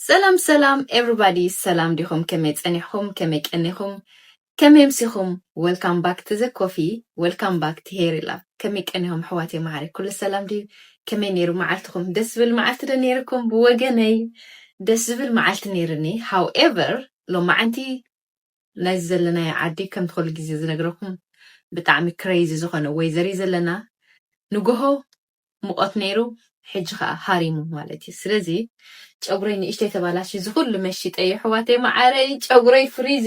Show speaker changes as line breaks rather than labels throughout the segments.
ሰላም ሰላም ኤቭሪባዲ ሰላም ዲኹም ከመይ ጸኒሕኹም ከመይ ቀኒኹም ከመይ ኣምሲኹም ወልካም ባክ ቱ ዘ ኮፊ ወልካም ባክ ቱ ሄሪላ ከመይ ቀኒኹም ኣሕዋተይ መዓረይ ኩሉ ሰላም ድዩ ከመይ ኔሩ መዓልትኹም ደስ ዝብል መዓልቲ ዶ ኔርኩም ብወገነይ ደስ ዝብል መዓልቲ ኔርኒ ሃውኤቨር ሎማዓንቲ ናይዚ ዘለናዮ ዓዲ ከምቲ ኩሉ ግዜ ዝነግረኩም ብጣዕሚ ክረይዚ ዝኮነ ወይዘር እዩ ዘለና ንጎሆ ሙቆት ነይሩ ሕጂ ከኣ ሃሪሙ ማለት እዩ ስለዚ ጨጉረይ ንእሽተይ ተባላሽዩ እዚ ኩሉ መሺጠ የሕዋተይ መዓረይ ጨጉረይ ፍሪዚ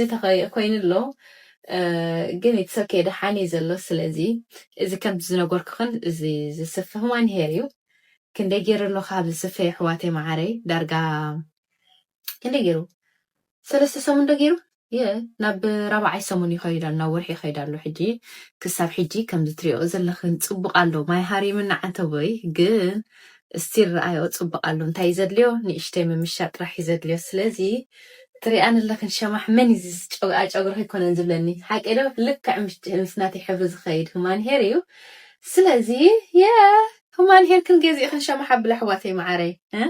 ኮይኑ ኣሎ ግን ኢትስ ኦኬ ደሓን እዩ ዘሎ ስለዚ እዚ ከምቲ ዝነገርኩክን እዚ ዝስፍህ ዋን ሄር እዩ ክንደይ ገይሩ ኣሎ ካብ ዝስፈ የሕዋተይ መዓረይ ዳርጋ ክንደይ ገይሩ ሰለስተ ሰሙን ዶ ገይሩ የ ናብ ራብዓይ ሰሙን ይኸይድ ኣሎ ናብ ወርሒ ይኸይድ ኣሎ ሕጂ ክሳብ ሕጂ ከምዚ ትሪኦ ዘለኽን ጽቡቕ ኣሎ ማይ ሃሪምና ዓንተቦይ ግን እስቲል ረኣዮ ጽቡቕ ኣሎ እንታይ እዩ ዘድልዮ ንእሽተይ ምምሻጥ ጥራሕ እዩ ዘድልዮ ስለዚ ትሪኣን ኣለኽን ሸማሕ መን እዩ እዚ ጨጉኣ ጨጉሪ ከይኮነን ዝብለኒ ሓቀይ ዶ ልክዕ ምስ ናተይ ሕብሪ ዝኸይድ ሁማን ሄር እዩ ስለዚ የ ሁማን ሄርክን ገዚእኽን ሸማሕ ኣብላ ኣሕዋተይ መዓረይ እ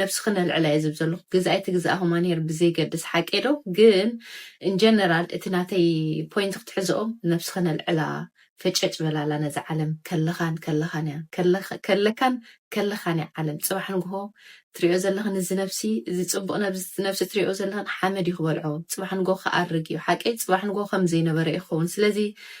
ነብስኺ ነልዕላ እየ ዝብ ዘለኹ ግዝ ኣይትግዝኣ ሁማንሄር ብዘይገድስ ሓቀይ ዶ ግን እንጀነራል እቲ ናተይ ፖይንት ክትሕዝኦ ነብስኺ ነልዕላ ፈጨጭ በላላ ነዛ ዓለም ከለኻን ከለኻን እያ ከለካን ከለኻን እያ ዓለም ጽባሕ ንግሆ ትሪኦ ዘለኽን እዚ ነብሲ እዚ ጽቡቕ ነብዚ ነብሲ ትሪኦ ዘለኽን ሓመድ እዩ ክበልዖ ጽባሕ ንግሆ ክኣርግ እዩ ሓቀይ ጽባሕ ንግሆ ከም ዘይነበረ እዩ ክኸውን ስለዚ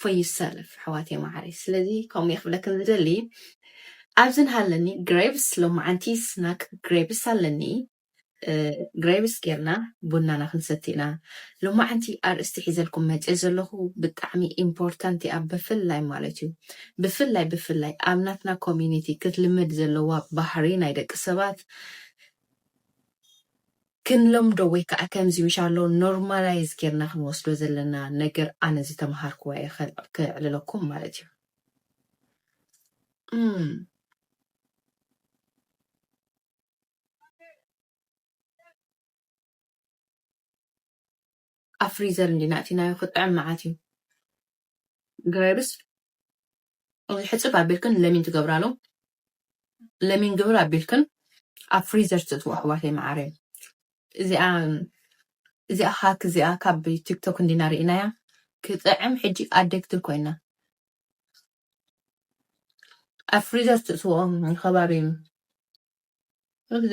for you self ኣሕዋተይ ማዓረይ ስለዚ ከምኡ እየ ክብለክን ዝደሊ ኣብዚ ንሃለኒ ግሬቭስ ሎማዓንቲ ስናክ ግሬቭስ ኣለኒ ግሬቭስ ጌርና ቡናና ክንሰቲ ኢና ሎማዓንቲ ኣርእስቲ ሒዘልኩም መፅየ ዘለኹ ብጣዕሚ ኢምፖርታንት እያ ብፍላይ ማለት እዩ ብፍላይ ብፍላይ ኣብ ናትና ኮሚኒቲ ክትልምድ ዘለዋ ባህሪ ናይ ደቂ ሰባት ክንለምዶ ወይ ከኣ ከምዚ ምሻሎ ኖርማላይዝ ጌርና ክንወስዶ ዘለና ነገር ኣነ ዝተመሃርክዎ እየ ከዕልለኩም ማለት እዩ እም። ኣብ ፍሪዘር እንዲና ኣእቲናዮ ክጥዕም መዓት እዩ ግራይብስ እዚ ሕፅብ ኣቢልክን ለሚን ትገብራሉ ለሚን ግብር ኣቢልክን ኣብ ፍሪዘር ትእትዎ ኣሕዋተይ መዓረይ እዚኣ እዚኣ ሃክ እዚኣ ካብ ቲክቶክ እንዲና ርኢናያ ክጥዕም ሕጂ ኣደግቲ ኮይና ኣብ ፍሪዘር ትእትዎ ከባቢ እዚ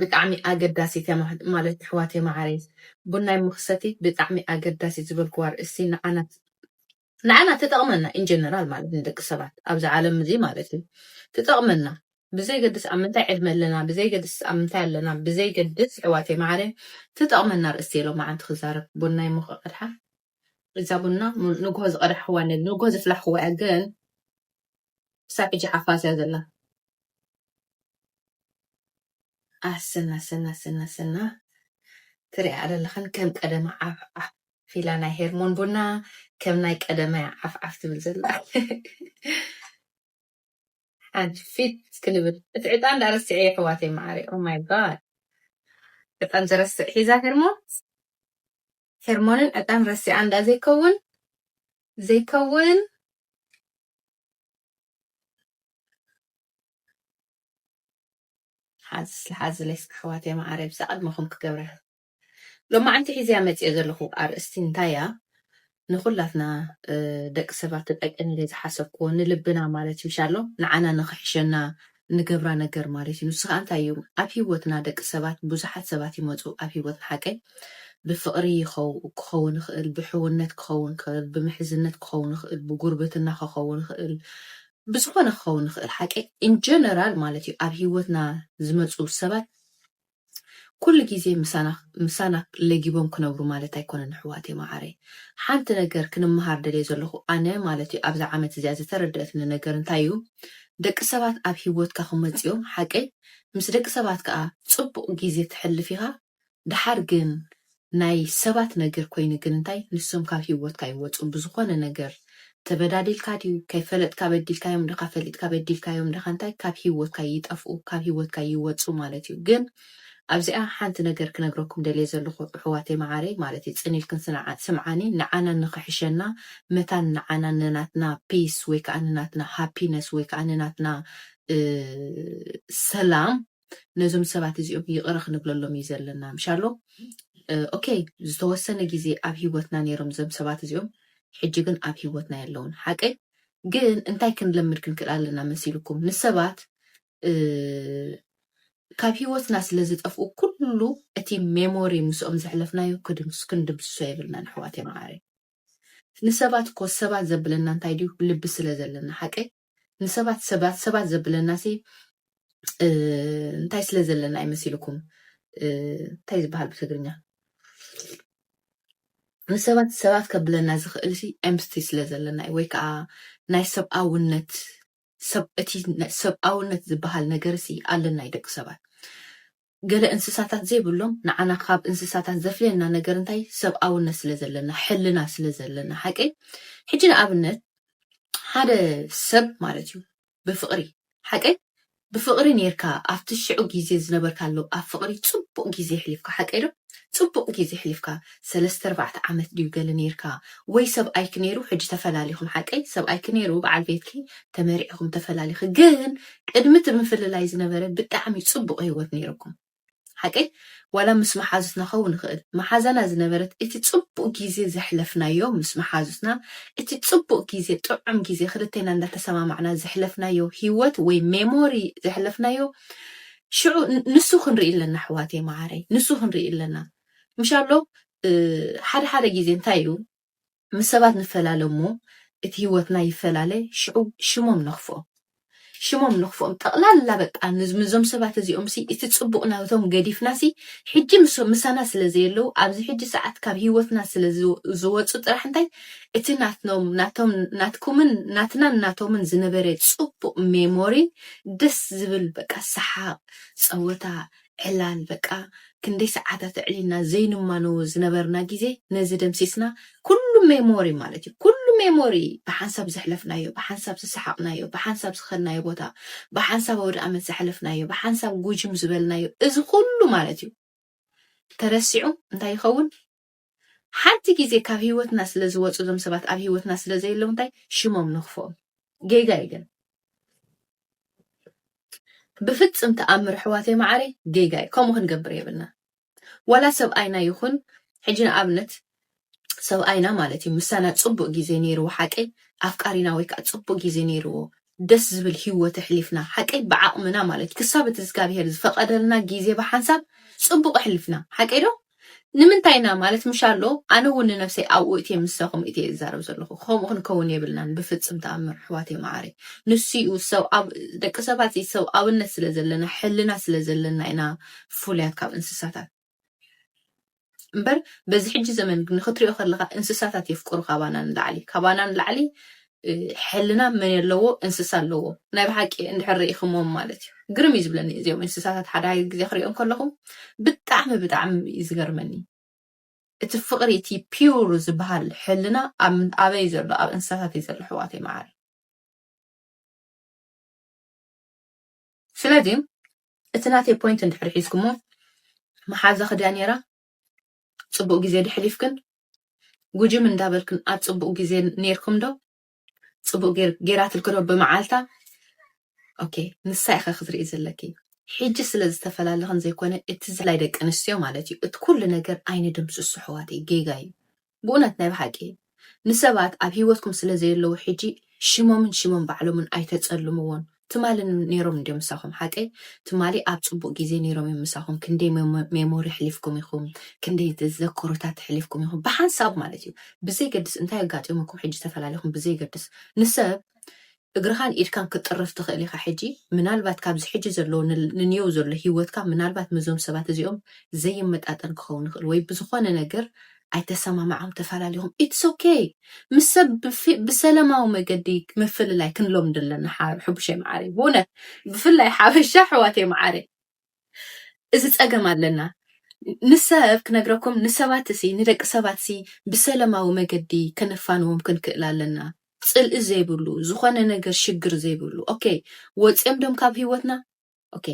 ብጣዕሚ ኣገዳሲ ተማ ማለት ኣሕዋተይ ማዓረይ ቡናይ መክሰቲ ብጣዕሚ ኣገዳሲት ዝበልክዎ ኣርእስቲ ንዓና ንዓና ትጠቅመና in general ማለት ንደቂ ሰባት ኣብዚ ዓለም እዚ ማለት እዩ ትጠቅመና ብዘይገድስ ኣብ ምንታይ ዕድመ ኣለና ብዘይገድስ ኣብ ምንታይ ኣለና ብዘይገድስ ኣሕዋተይ ማዓረይ ትጠቅመና ኣርእስቲ እየ ሎማዓንቲ ክዛረብ ቡናይ ሞክቀድሓ እዛ ቡና ንጉሆ ዝቀዳሕክዋ ኣለኒ ንጉሆ ዘፍላሕክዋ እያ ግን ክሳብ ሕጂ ሓፋስ እያ ዘላ ኣሰና ሰና ሰና ሰና ትሪኣ ኣለለኽን ከም ቀደማ ዓፍዓፍ ፊላ ናይ ሄርሞን ቡና ከም ናይ ቀደማ ዓፍዓፍ ትብል ዘላ ሓንቲ ፊት ክንብል እቲ ዕጣን ዳ ረስዐ የሕዋተይ መዓሪ ኦማይ ጋድ ዕጣን ዘረስዕ ሒዛ ሄርሞን ሄርሞንን ዕጣን ረሲዓ እንዳ ዘይከውን ዘይከውን ሓዝስ ሓዝለይስ ኣሕዋተይ መዓረይ ብሳ ቅድመኹም ክገብረ ሎማዓንቲ ሒዘያ መፅኦ ዘለኹ ኣርእስቲ እንታይ እያ ንኹላትና ደቂ ሰባት ትጠቅም ኢለ ዝሓሰብክዎ ንልብና ማለት እዩ ሻሎ ንዓና ንኽሕሸና ንገብራ ነገር ማለት እዩ ንሱ ከኣ እንታይ እዩ ኣብ ሂወትና ደቂ ሰባት ቡዙሓት ሰባት ይመጹ ኣብ ሂወትና ሓቀይ ብፍቅሪ ክከውን ይክእል ብሕውነት ክከውን ይክእል ብምሕዝነት ክከውን ይክእል ብጉርብትና ክከውን ይክእል ብዝኮነ ክከውን ይክእል ሓቀይ ኢንጀነራል ማለት እዩ ኣብ ሂወትና ዝመጹ ሰባት ኩሉ ግዜ ምሳና ምሳና ለጊቦም ክነብሩ ማለት ኣይኮነን ኣሕዋተይ ማዓረይ ሓንቲ ነገር ክንማሃር ደልየ ዘለኩ ኣነ ማለት እዩ ኣብዛ ዓመት እዚኣ ዝተረደኣትኒ ነገር እንታይ እዩ ደቂ ሰባት ኣብ ሂወትካ ክመጹ እዮም ሓቀይ ምስ ደቂ ሰባት ከኣ ጽቡቅ ግዜ ተሕልፍ ኢካ ደሓር ግን ናይ ሰባት ነገር ኮይኑ ግን እንታይ ንሶም ካብ ሂወትካ ይወጹ ብዝኮነ ነገር ተበዳዲልካ ድዩ ከይፈለጥካ በዲልካዮም ድካ ፈሊጥካ በዲልካዮም ድካ እንታይ ካብ ሂወትካ ይጠፍኡ ካብ ሂወትካ ይወጹ ማለት እዩ ግን ኣብዚኣ ሓንቲ ነገር ክነግረኩም ደልየ ዘለኩ እሕዋተይ ማዓረይ ማለት እዩ ጽን ኢልክን ስምዓኒ ንዓና ንክሕሸና መታን ንዓና ንናትና ፒስ ወይ ከኣ ንናትና ሃፒነስ ወይ ከኣ ንናትና ሰላም ነዞም ሰባት እዚኦም ይቅረ ክንብለሎም እዩ ዘለና ምሻሎ ኦኬ ዝተወሰነ ግዜ ኣብ ሂወትና ነይሮም ዘም ሰባት እዚኦም ሕጂ ግን ኣብ ሂወትና የለውን ሓቀይ ግን እንታይ ክንለምድ ክንክእል ኣለና መሲልኩም ንሰባት ካብ ሂወትና ስለ ዝጠፍኡ ኩሉ እቲ ሜሞሪ ምስኦም ዘሕለፍናዮ ክንድምስሶ የብልና ንሕዋት የመዓረ ንሰባት ኮ ሰባት ዘብለና እንታይ ድዩ ልቢ ስለ ዘለና ሓቀይ ንሰባት ሰባት ሰባት ዘብለናሲ እንታይ ስለ ዘለና እዩ መሲልኩም እንታይ ዝበሃል ብትግርኛ ንሰባት ሰባት ከብለና ዝኽእል ሲ ኤምስቲ ስለ ዘለና እዩ ወይ ከዓ ናይ ሰብኣውነት እቲ ሰብኣውነት ዝበሃል ነገር ሲ ኣለና እዩ ደቂ ሰባት ገለ እንስሳታት ዘይብሎም ንዓና ካብ እንስሳታት ዘፍልየና ነገር እንታይ ሰብኣውነት ስለ ዘለና ሕልና ስለ ዘለና ሓቀይ ሕጂ ንኣብነት ሓደ ሰብ ማለት እዩ ብፍቅሪ ሓቀይ ብፍቅሪ ኔርካ ኣብቲ ሽዑ ግዜ ዝነበርካሉ ኣብ ፍቅሪ ጽቡቅ ግዜ ሕሊፍካ ሓቀይ ዶ ጽቡቅ ግዜ ሕሊፍካ ሰለስተ ኣርባዕተ ዓመት ድዩ ገለ ነይርካ ወይ ሰብኣይኪ ነይሩ ሕጂ ተፈላሊኩም ሓቀይ ሰብኣይኪ ነይሩ በዓል ቤትኪ ተመርዒኩም ተፈላሊኪ ግን ቅድሚ እቲ ምፍልላይ ዝነበረ ብጣዕሚ ጽቡቅ ሂወት ነይርኩም ሓቀይ ዋላ ምስ መሓዙትና ከውን ንኽእል መሓዛና ዝነበረት እቲ ጽቡቅ ግዜ ዘሕለፍናዮ ምስ መሓዙትና እቲ ጽቡቅ ግዜ ጥዑም ግዜ ክልቴና እንዳተሰማማዕና ዘሕለፍናዮ ሂወት ወይ ሜሞሪ ዘሕለፍናዮ ሽዑ ንሱ ክንርኢ ኣለና ኣሕዋተይ መዓረይ ንሱ ክንርኢ ኣለና ምሻሎ ሓደ ሓደ ግዜ እንታይ እዩ ምስ ሰባት ንፈላለ እሞ እቲ ህይወትና ይፈላለ ሽዑ ሽሞም ነኽፍኦም ሽሞም ነኽፍኦም ጠቕላላ በቃ ንዞም ሰባት እዚኦም ሲ እቲ ጽቡቕ ናብቶም ገዲፍና ሲ ሕጂ ምሶም ምሳና ስለ ዘየለው ኣብዚ ሕጂ ሰዓት ካብ ህይወትና ስለ ዝወጹ ጥራሕ እንታይ እቲ ናትኖም ናቶም ናትኩምን ናትናን ናቶምን ዝነበረ ጽቡቕ ሜሞሪ ደስ ዝብል በቃ ሰሓቕ ጸወታ ዕላል በቃ ክንደይ ሰዓታት ኣዕሊልና ዘይንማነዎ ዝነበርና ግዜ ነዚ ደምሲስና ኩሉ ሜሞሪ ማለት እዩ ኩሉ ሜሞሪ ብሓንሳብ ዘሕለፍናዮ ብሓንሳብ ዝሰሓቕናዮ ብሓንሳብ ዝኸድናዮ ቦታ ብሓንሳብ ኣውደኣመት ዘሕለፍናዮ ብሓንሳብ ጉጅም ዝበልናዮ እዚ ኩሉ ማለት እዩ ተረሲዑ እንታይ ይኸውን ሓንቲ ግዜ ካብ ሂወትና ስለ ዝወጹ እዞም ሰባት ኣብ ሂወትና ስለ ዘየለዉ እንታይ ሽሞም ንክፍኦም ጌጋ እዩ ግን ብፍጽም ተኣምር ኣሕዋተይ መዓረይ ጌጋ እዩ ከምኡ ክንገብር የብልና ዋላ ሰብኣይና ይኹን ሕጂ ንኣብነት ሰብኣይና ማለት እዩ ምሳና ጽቡቅ ግዜ ነይርዎ ሓቀይ ኣፍቃሪና ወይ ከዓ ጽቡቅ ግዜ ነይርዎ ደስ ዝብል ሂወት ኣሕሊፍና ሓቀይ ብዓቅምና ማለት ክሳብ እቲ እግዚኣብሄር ዝፈቀደልና ግዜ ብሓንሳብ ጽቡቅ ኣሕሊፍና ሓቀይ ዶ ንምንታይ ኢና ማለት ምሻሎ ኣነ ውን ንነብሰይ ኣብኡ እትየ ምሳኩም እትየ ዝዛረብ ዘለኩ ከምኡ ክንከውን የብልናን ብፍጽም ተኣምር ኣሕዋተይ መዓረይ ንሱ ዩ ሰብ ኣብ ደቂ ሰባት እዚ ሰብ ኣብነት ስለ ዘለና ሕልና ስለ ዘለና ኢና ፍሉያት ካብ እንስሳታት እምበር በዚ ሕጂ ዘመን ንክትሪኦ ከለካ እንስሳታት የፍቅሩ ካባና ንላዕሊ ካባና ንላዕሊ ሕልና መን ኣለዎ እንስሳ ኣለዎ ናይ ብሓቂ እንድሕር ርኢክሞም ማለት እዩ ግርም እዩ ዝብለኒ እዚኦም እንስሳታት ሓደ ሓደ ግዜ ክሪኦም ከለኹ ብጣዕሚ ብጣዕሚ እዩ ዝገርመኒ እቲ ፍቅሪ እቲ ፒውር ዝበሃል ሕልና ኣበይ ዘሎ ኣብ እንስሳታት እዩ ዘሎ ሕዋተይ መዓሪ ስለዚ እቲ ናተይ ፖይንት እንድሕር ሒዝኩሞ መሓዛ ክድያ ነይራ ጽቡቅ ግዜ ዶ ሕሊፍክን ጉጅም እንዳበልክን ኣብ ጽቡቅ ግዜ ኔርኩም ዶ ጽቡቅ ጌር ጌራትልኪ ዶ ብመዓልታ ኦኬ ንሳ ኢኻ ክትርኢ ዘለኪ ሕጂ ስለ ዝተፈላለኽን ዘይኮነ እቲ ዝላይ ደቂ ኣንስትዮ ማለት እዩ እቲ ኩሉ ነገር ኣይንድምስሶ ኣሕዋተይ ጌጋ እዩ ብኡነት ናይ ብሓቂ ንሰባት ኣብ ሂወትኩም ስለ ዘየለዉ ሕጂ ሽሞምን ሽሞም ባዕሎምን ኣይተጸልምዎን ትማሊ ኔሮም እንድዮም ምሳኹም ሓቀይ ትማሊ ኣብ ጽቡቅ ግዜ ኔሮም እዮም ምሳኹም ክንደይ ሜሞሪ ኣሕሊፍኩም ኢኹም ክንደይ ዘከሮታት ኣሕሊፍኩም ኢኹም ብሓንሳብ ማለት እዩ ብዘይገድስ እንታይ ኣጋጢሙኩም ሕጂ ተፈላለኹም ብዘይገድስ ንሰብ እግርኻን ኢድካን ክትጥርፍ ትኽእል ኢኻ ሕጂ ምናልባት ካብዚ ሕጂ ዘለዎ ንንየው ዘሎ ሂወትካ ምናልባት ምዞም ሰባት እዚኦም ዘይመጣጠን ክኸውን ይኽእል ወይ ብዝኾነ ነገር ኣይተሰማማዕኹም ተፋላሊኹም ኢትስ ኦኬይ ምስ ሰብ ብሰለማዊ መገዲ ምፍልላይ ክንለምዶ ኣለና ሓብሸይ መዓረይ ብእውነት ብፍላይ ሓበሻ ኣሕዋተይ መዓረይ እዚ ጸገም ኣለና ንሰብ ክነግረኩም ንሰባትሲ ንደቂ ሰባትሲ ብሰለማዊ መገዲ ከነፋንዎም ክንክእል ኣለና ጽልኢ ዘይብሉ ዝኾነ ነገር ሽግር ዘይብሉ ኦኬ ወጽዮም ዶም ካብ ህይወትና ኦኬ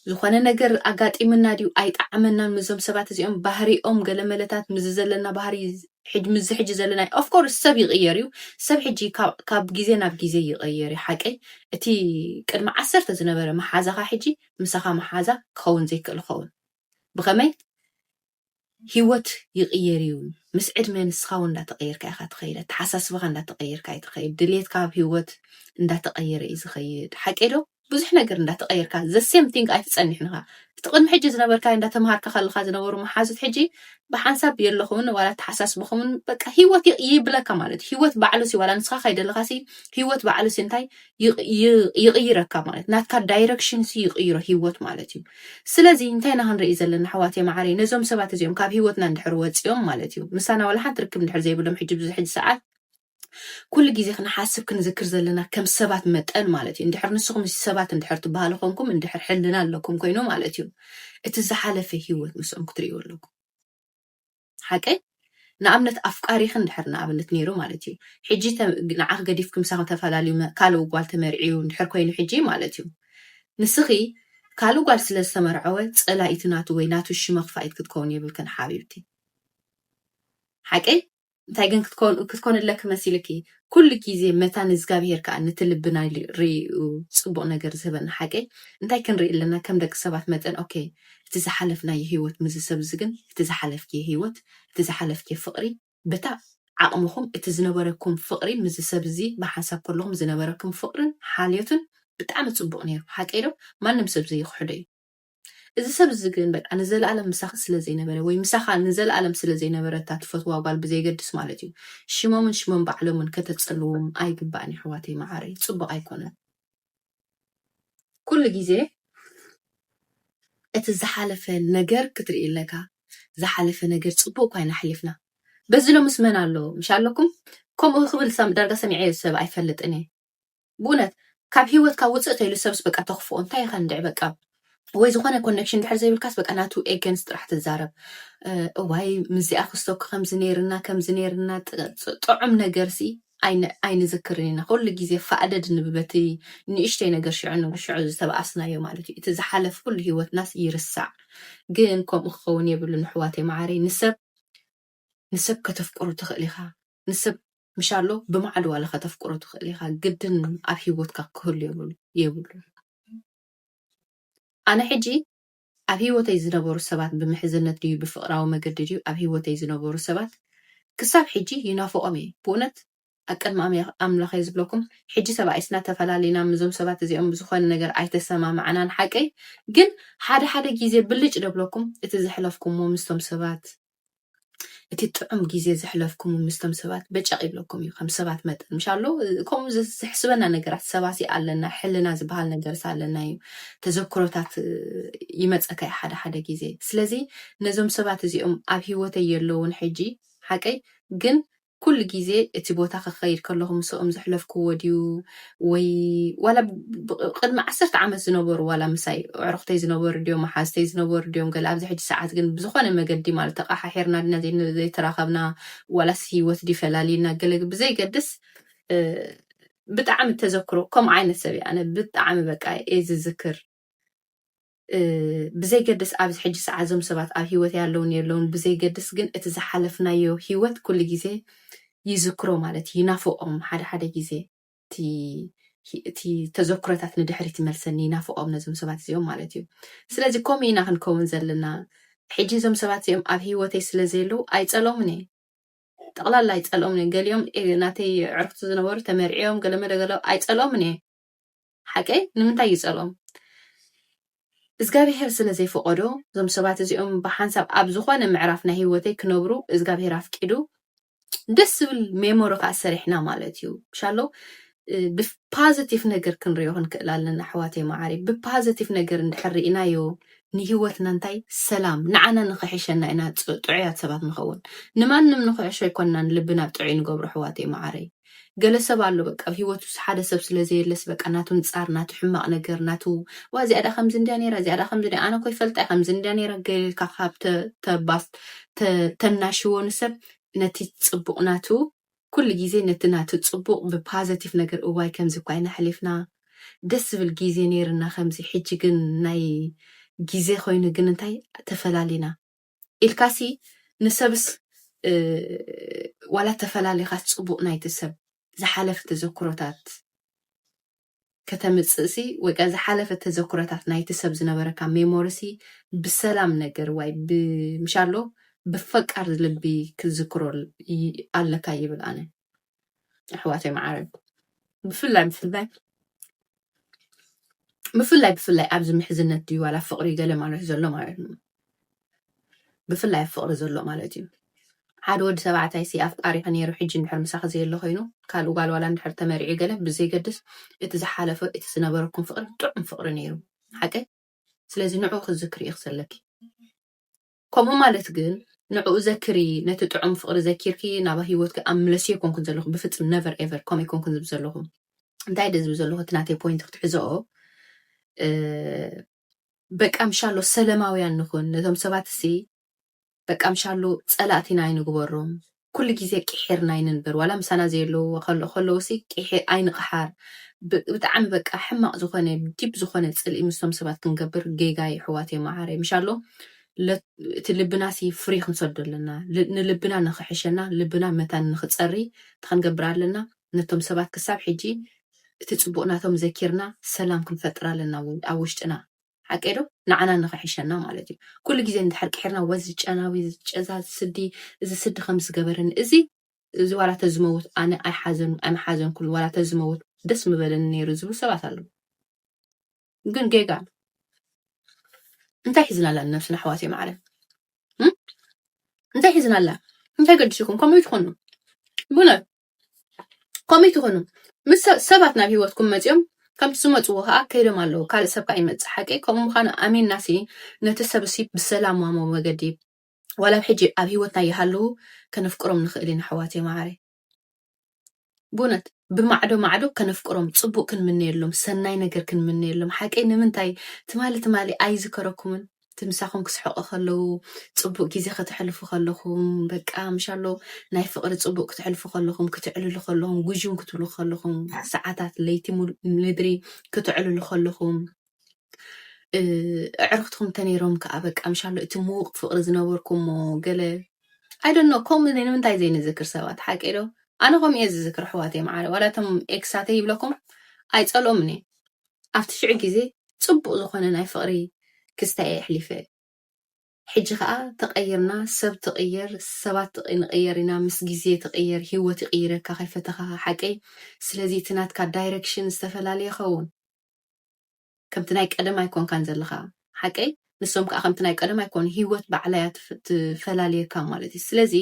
ዝኾነ ነገር ኣጋጢምና ድዩ ኣይጠዓመናን ምዞም ሰባት እዚኦም ባህሪኦም ገለመለታት ምዚ ዘለና ባህሪ ሕጂ ምስዚ ሕጂ ዘለናዮ of course ሰብ ይቕየር እዩ፣ ሰብ ሕጂ ካብ ካብ ግዜ ናብ ግዜ ይቐየር እዩ ሓቀይ፣ እቲ ቅድሚ ዓሰርተ ዝነበረ መሓዛኻ ሕጂ ምሳኻ መሓዛ ክኸውን ዘይክእል ይኸውን፣ ብኸመይ ሂወት ይቕየር እዩ፣ ምስ ዕድመ ንስኻ እውን እንዳተቐየርካ ኢኻ ትኸይድ፣ ኣተሓሳስባኻ እንዳተቐየርካ እዩ ትኸይድ፣ ድሌትካ ኣብ ሂወት እንዳተቐየረ እዩ ዝኸይድ፣ ሓቀይ ዶ? ብዙሕ ነገር እንዳ ተቀየርካ the same thing ኣይትጸንሕን ኢኻ እቲ ቅድሚ ሕጂ ዝነበርካዮ እንዳ ተማሃርካ ከለኻ ዝነበሩ መሓዙት ሕጂ ብሓንሳብ የለኹምን ዋላ ኣተሓሳስባኹምን በቃ ሂወት ይቅ- ይብለካ ማለት እዩ ሂወት ባዕሉ ሲ ዋላ ንስኻ ከይደለኻ ሲ ሂወት ባዕሉ ሲ እንታይ ይቅ- ይ- ይቅይረካ ማለት ናትካ ዳይረክሽን ሲ ይቅይሮ ሂወት ማለት እዩ ስለዚ እንታይ ኢና ክንርኢ ዘለና ኣሕዋተይ መዓረይ ነዞም ሰባት እዚኦም ካብ ሂወትና እንድሕር ወፂኦም ማለት እዩ ምሳና ዋላ ሓንቲ ርክብ እንድሕር ዘይብሎም ሕጂ ብዙ ሕጂ ሰዓት ኩሉ ግዜ ክንሓስብ ክንዝክር ዘለና ከም ሰባት መጠን ማለት እዩ እንድሕር ንስኹም ሰባት እንድሕር ትበሃሉ ኮንኩም እንድሕር ሕልና ኣለኩም ኮይኑ ማለት እዩ እቲ ዝሓለፈ ሂወት ምስኦም ክትርእዩ ኣለኩም ሓቀይ ንኣብነት ኣፍቃሪኺ እንድሕር ንኣብነት ነይሩ ማለት እዩ ሕጂ ንዓኺ ገዲፍኪ ምሳኺ ተፈላለዩ ካልእ ጓል ተመርዕዩ እንድሕር ኮይኑ ሕጂ ማለት እዩ ንስኺ ካልእ ጓል ስለ ዝተመርዐወ ጸላኢቲ ናቱ ወይ ናቱ ሽመኽፋኢት ክትከውን የብልክን ሓቢብቲ ሓቀይ እንታይ ግን ክትኮን ክትኮንለኪ መሲልኪ ኩሉ ግዜ መታ ንእዝጋብሄር ከኣ ነቲ ልብና ኢሉ ርእዩ ጽቡቕ ነገር ዝህበና ሓቀይ እንታይ ክንርኢ ኣለና ከም ደቂ ሰባት መጠን ኦኬ እቲ ዝሓለፍናዮ ሂወት ምዚ ሰብ እዚ ግን እቲ ዝሓለፍክዬ ሂወት እቲ ዝሓለፍክዬ ፍቕሪ በታ ዓቕምኹም እቲ ዝነበረኩም ፍቕሪ ምዚ ሰብ እዚ ብሓንሳብ ከለኹም ዝነበረኩም ፍቕርን ሓልዮትን ብጣዕሚ ጽቡቕ ኔሩ ሓቀይ ዶ ማንም ሰብ ዘይኽሕዶ እዩ እዚ ሰብ እዚ ግን በቃ ንዘለኣለም ምሳኺ ስለ ዘይነበረ ወይ ምሳኻ ንዘለኣለም ስለ ዘይነበረ እታ ትፈትዋ ጓል ብዘይገድስ ማለት እዩ ሽሞምን ሽሞም ባዕሎምን ከተጸልዎም ኣይግባእን የሕዋተይ መዓረይ ጽቡቕ ኣይኮነን ኩሉ ግዜ እቲ ዝሓለፈ ነገር ክትርኢ ኣለካ ዝሓለፈ ነገር ጽቡቕ እኳ ኢና ኣሕሊፍና በዚ ሎምስ መን ኣሎ ምሽ ኣለኩም ከምኡ ክብል ዳርጋ ሰሚዐዮ ሰብ ኣይፈልጥን እየ ብኡነት ካብ ሂወትካ ውጽእ ተይሉ ሰብስ በቃ ተክፍኦ እንታይ ኢካ እንድዒ በቃ ወይ ዝኮነ ኮነክሽን ድሕር ዘይብልካስ በቃ ናቱ ኤገንስ ጥራሕ ትዛረብ እዋይ ምስዚኣ ክስቶ ከምዚ ነይርና ከምዚ ነይርና ጥዑም ነገርሲ ኣይንዝክርን ኢና ኩሉ ግዜ ፋእደድ ንብበቲ ንእሽተይ ነገር ሽዑ ንብ ሽዑ ዝተባኣስናዮ ማለት እዩ እቲ ዝሓለፍ ኩሉ ሂወትናስ ይርሳዕ ግን ከምኡ ክኸውን የብሉን ኣሕዋተይ መዓረይ ንሰብ ንሰብ ከተፍቅሩ ትኽእል ኢኻ ንስብ ምሻሎ ብማዕዶ ዋላ ከተፍቅሮ ትክእል ኢካ ግድን ኣብ ሂወትካ ክህሉ የብሉን ኣነ ሕጂ ኣብ ሂወተይ ዝነበሩ ሰባት ብምሕዝነት ድዩ ብፍቅራዊ መገዲ ድዩ ኣብ ሂወተይ ዝነበሩ ሰባት ክሳብ ሕጂ ይናፍቆም እየ ብኡነት ኣብ ቅድሚ ኣምላክ እየ ዝብለኩም ሕጂ ተባኢስና ተፈላሊና ምዞም ሰባት እዚኦም ብዝኮነ ነገር ኣይተሰማማዕናን ሓቀይ ግን ሓደ ሓደ ግዜ ብልጭ ደብለኩም እቲ ዘሕለፍኩሞ ምስቶም ሰባት እቲ ጥዑም ግዜ ዘሕለፍኩሙ ምስቶም ሰባት በጨቕ ይብለኩም እዩ ከም ሰባት መጠን ምሻሎ ከምኡ ዘሕስበና ነገራት ሰባሲ ኣለና ሕልና ዝበሃል ነገርስ ኣለና እዩ ተዘክሮታት ይመፀካ እዩ ሓደ ሓደ ግዜ ስለዚ ነዞም ሰባት እዚኦም ኣብ ሂወተይ የለውን ሕጂ ሓቀይ ግን ኩሉ ግዜ እቲ ቦታ ክኸይድ ከለኹ ምስኦም ዘሕለፍክዎ ድዩ ወይ ዋላ ቅድሚ ዓሰርተ ዓመት ዝነበሩ ዋላ ምሳይ ኣዕሩኽተይ ዝነበሩ ድዮም መሓዝተይ ዝነበሩ ድዮም ገለ ኣብዚ ሕጂ ሰዓት ግን ብዝኾነ መገዲ ማለት ተቐሓሒርና ድና ዘይተራኸብና ዋላስ ሂወት ድዩ ፈላልዩና ገለ ብዘይገድስ ብጣዕሚ ተዘክሮ ከምኡ ዓይነት ሰብ እየ ኣነ ብጣዕሚ በቃ እየ ዝዝክር። ብዘይገድስ ኣብዚ ሕጂ ሰዓት እዞም ሰባት ኣብ ሂወት ያለውን የለውን ብዘይገድስ ግን እቲ ዝሓለፍናዮ ሂወት ኩሉ ግዜ ይዝክሮ ማለት እዩ ይናፍቆም ሓደ ሓደ ግዜ እቲ እቲ ተዘክሮታት ንድሕሪት ይመልሰኒ ይናፍቆም ነዞም ሰባት እዚኦም ማለት እዩ ስለዚ ከምኡ ኢና ክንከውን ዘለና ሕጂ እዞም ሰባት እዚኦም ኣብ ሂወተይ ስለ ዘየለዉ ኣይጸሎምን እየ ጠቕላላ ኣይጸልኦምን እየ ገሊኦም ናተይ ዕርክቲ ዝነበሩ ተመርዕዮም ገለመለ ገለ ኣይጸልኦምን እየ ሓቀይ ንምንታይ እዩ ጸልኦም እዝጋብሄር ስለ ዘይፈቆዶ እዞም ሰባት እዚኦም ብሓንሳብ ኣብ ዝኾነ ምዕራፍ ናይ ህይወተይ ክነብሩ እዝጋብሄር ኣፍቂዱ ደስ ዝብል ሜሞሪ ከዓ ሰሪሕና ማለት እዩ ሻሎ ብፓዘቲቭ ነገር ክንሪኦ ክንክእል ኣለና ኣሕዋተይ መዓሪ ብፓዘቲቭ ነገር እንድሕር ርኢናዮ ንሂወትና እንታይ ሰላም ንዓና ንክሕሸና ኢና ጥዑያት ሰባት ንኸውን ንማንም ንክሕሾ ኣይኮናን ልብና ጥዑይ ንገብሮ ኣሕዋተይ መዓረይ ገለ ሰብ ኣሎ በቃ ኣብ ሂወቱ ሓደ ሰብ ስለ ዘየለስ በቃ ናቱ ንጻር ናቱ ሕማቅ ነገር ናቱ ዋእ እዚኣ ድኣ ከምዚ እንድያ ኔራ እዚኣ ድኣ ከምዚ እንድያ ኣነ እኮ ይፈልጣ እየ ከምዚ እንድያ ኔራ ገለ ኢልካ ካብ ተናሽዎ ንሰብ ነቲ ጽቡቅ ናቱ ኩሉ ግዜ ነቲ ናቱ ጽቡቅ ብ ፓዘቲቭ ነገር እዋይ ከምዚ እኳ ኢና ሕሊፍና ደስ ዝብል ግዜ ኔርና ከምዚ ሕጂ ግን ናይ ግዜ ኮይኑ ግን እንታይ ተፈላሊና። ኢልካሲ ንሰብስ ዋላ ተፈላሊኻስ ጽቡቕ ናይቲ ሰብ ዝሓለፈ ተዘክሮታት ከተምጽእሲ ወይ ከኣ ዝሓለፈ ተዘክሮታት ናይቲ ሰብ ዝነበረካ ሜሞሪሲ ብሰላም ነገር ዋይ ብምሻሎ ብፈቃር ልቢ ክትዝክሮ ኣለካ ይብል ኣነ ኣሕዋተይ መዓረይ ብፍላይ ብፍላይ ብፍላይ ብፍላይ ኣብዚ ምሕዝነት ድዩ ዋላ ፍቕሪ ገለ ማለት ዘሎ ማለት እዩ ብፍላይ ኣብ ፍቕሪ ዘሎ ማለት እዩ ሓደ ወዲ ተባዕታይ ሲ ኣፍቃሪኺ ነይሩ ሕጂ እንድሕር ምሳኺ ዘየለ ኮይኑ ካልእ ጓል ዋላ እንድሕር ተመሪዑ ገለ ብዘይገድስ እቲ ዝሓለፈ እቲ ዝነበረኩም ፍቕሪ ጥዑም ፍቕሪ ነይሩ ሓቀይ ስለዚ ንዕኡ ክዝክሪ ኢኺ ዘለኪ ከምኡ ማለት ግን ንዕኡ ዘክሪ ነቲ ጥዑም ፍቅሪ ዘኪርኪ ናባ ሂወትኪ ኣምለስዮ ኣይኮንኩን ዘለኹ ብፍጽም ነቨር ኤቨር ከምኡ ኣይኮንኩን ዝብል ዘለኹ እንታይ ደ ዝብል ዘለኹ እቲ ናተይ ፖይንት ክትሕዘኦ በቃ ምሻሎ ሰለማውያን ንኹን ነቶም ሰባት እሲ በቃ ምሻሎ ጸላእቲና ኣይንግበሮም ኩሉ ግዜ ቂሒር ናይ ንንበር ዋላ ምሳና ዘየለዉ ከሎ ከለዉሲ ቂሒ ኣይንቅሓር ብ ብጣዕሚ በቃ ሕማቅ ዝኮነ ዲብ ዝኮነ ጽልኢ ምስቶም ሰባት ክንገብር ጌጋ ዩ ኣሕዋተይ ማዓረይ ምሻሎ ለ እቲ ልብናሲ ፍሪ ክንሰዶ ኣለና ል ንልብና ንክሕሸና ልብና መታን ንክጸሪ ታይ ክንገብር ኣለና ነቶም ሰባት ክሳብ ሕጂ እቲ ጽቡቅ ናቶም ዘኪርና ሰላም ክንፈጥር ኣለና ኣብ ውሽጥና ሓቀይ ዶ ንዓና ንኽሕሸና ማለት እዩ ኩሉ ግዜ እንድሕር ቂሒርና ወዚ ጨናዊ ጨዛ ዝስዲ እዚ ስዲ ከምዚ ዝገበረኒ እዚ እዚ ዋላ ተዝመውት ኣነ ኣይሓዘን ኣይምሓዘንኩን ዋላ ተዝመውት ደስ ምበለኒ ነይሩ ዝብሉ ሰባት ኣለዉ ግን ጌጋ እዩ። እንታይ ሒዝና ኣላ ንነብስና ኣሕዋተይ ማዕረ እም? እንታይ ሒዝና ኣላ እንታይ ገዲሱኩም ከምኡ ይትኾኑ ብእውነት ከምኡ ትኾኑ ምስ ሰባት ናብ ሂወትኩም መጺኦም ከምቲ ዝመጽዎ ከኣ ከይዶም ኣለዉ ካልእ ሰብ ከኣ ይመጽእ ሓቂ ከምኡ ምዃኑ ኣሚንናሲ ነቲ ሰብ እሲ ብሰላማዊ መገዲ ዋላ ኣብ ሕጂ ኣብ ሂወትና ይሃልዉ ከነፍቅሮም ንኽእል ኢና ኣሕዋተይ መዓረይ ብእውነት ብማዕዶ ማዕዶ ከነፍቅሮም ጽቡቅ ክንምነየሎም ሰናይ ነገር ክንምነየሎም ሓቂ ንምንታይ ትማሊ ትማሊ ኣይዝከረኩምን እቲ ምሳኹም ክስሕቑ ከለዉ ጽቡቕ ግዜ ከተሕልፉ ከለኹም በቃ ምሻሎ ናይ ፍቕሪ ጽቡቕ ክትሕልፉ ከለኹም ክትዕልሉ ከለኹም ጉዥም ክትብሉ ከለኹም ሰዓታት ለይቲ ምድሪ ክትዕልሉ ከለኹም ኣዕርኽትኩም ተነይሮም ከዓ በቃ ምሻሎ እቲ ምውቕ ፍቕሪ ዝነበርኩሞ ገለ ኣይደኖ ከምኡ ንምንታይ ዘይንዝክር ሰባት ሓቂ ዶ ኣነ ከምኡ እየ ዝዝክር ኣሕዋተይ መዓረ ዋላ እቶም ኤክሳተይ ይብለኩም ኣይፀልኦምን እየ ኣብቲ ሽዑ ግዜ ጽቡቅ ዝኮነ ናይ ፍቅሪ ክስታይ እየ ኣሕሊፈ ሕጂ ከኣ ተቀይርና ሰብ ትቅየር ሰባት ንቅየር ኢና ምስ ግዜ ትቅየር ሂወት ይቅይረካ ከይፈተካካ ሓቀይ ስለዚ እቲ ናትካ ዳይረክሽን ዝተፈላለየ ይከውን ከምቲ ናይ ቀደም ኣይኮንካን ዘለካ ሓቀይ ንሶም ከዓ ከምቲ ናይ ቀደም ኣይኮኑ ሂወት ባዕላ እያ ትፈላልየካ ማለት እዩ ስለዚ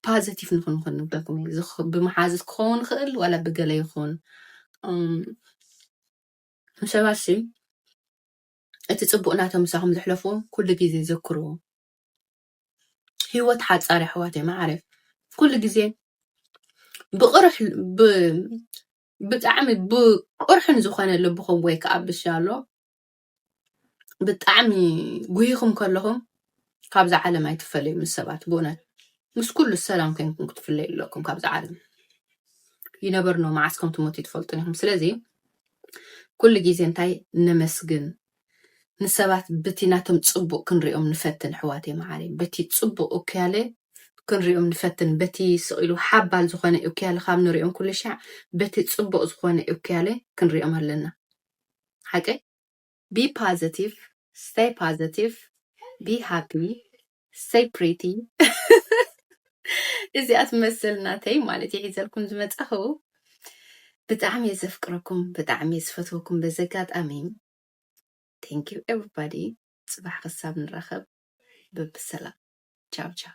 ፓዘቲቭ ንኹን ክንብለኩም እዩ ዝኽ- ብመሓዙት ክኸውን ይኽእል ዋላ ብገለ ይኹን እም፣ ሰባት ሲ እቲ ፅቡቅ ናቶም ምሳኹም ዘሕለፍዎ ኩሉ ግዜ ዘክርዎ ሂወት ሓፃር እያ ኣሕዋተይ መዓረይ ኩሉ ግዜ ብቕርሕ ብ ብጣዕሚ ብቁርሕን ዝኾነ ልብኹም ወይ ከዓ ብሻሎ ብጣዕሚ ጉሂኹም ከለኹም ካብዛ ዓለም ኣይትፈለዩ ምስ ሰባት ብእውነት ምስ ኩሉ ሰላም ኮይንኩም ክትፍለዩ ኣለኩም ካብዛ ዓለም ይነበርኖ መዓስ ከም ትሞት ይትፈልጡን ኢኹም ስለዚ ኩሉ ግዜ እንታይ ነመስግን ንሰባት በቲ ናቶም ፅቡቅ ክንሪኦም ንፈትን ሕዋቴ መዓሪ በቲ ፅቡቅ እኩያለ ክንሪኦም ንፈትን በቲ ስቂሉ ሓባል ዝኾነ እኩያለ ካብ ንሪኦም ኩሉ ሻዕ በቲ ፅቡቅ ዝኾነ እኩያለ ክንሪኦም ኣለና ሓቀይ ቢ ፓዘቲቭ ስተይ ፓዘቲቭ ቢ ሃፒ ስተይ ፕሪቲ እዚኣ ትመስል ናተይ ማለት እየ ሒዘልኩም ዝመፃኹ ብጣዕሚ እየ ዘፍቅረኩም ብጣዕሚ እየ ዝፈትወኩም በዚ ኣጋጣሚ ቴንክ ዩ ኤቨሪባዲ ፅባሕ ክሳብ ንራኸብ በብሰላም ቻው ቻው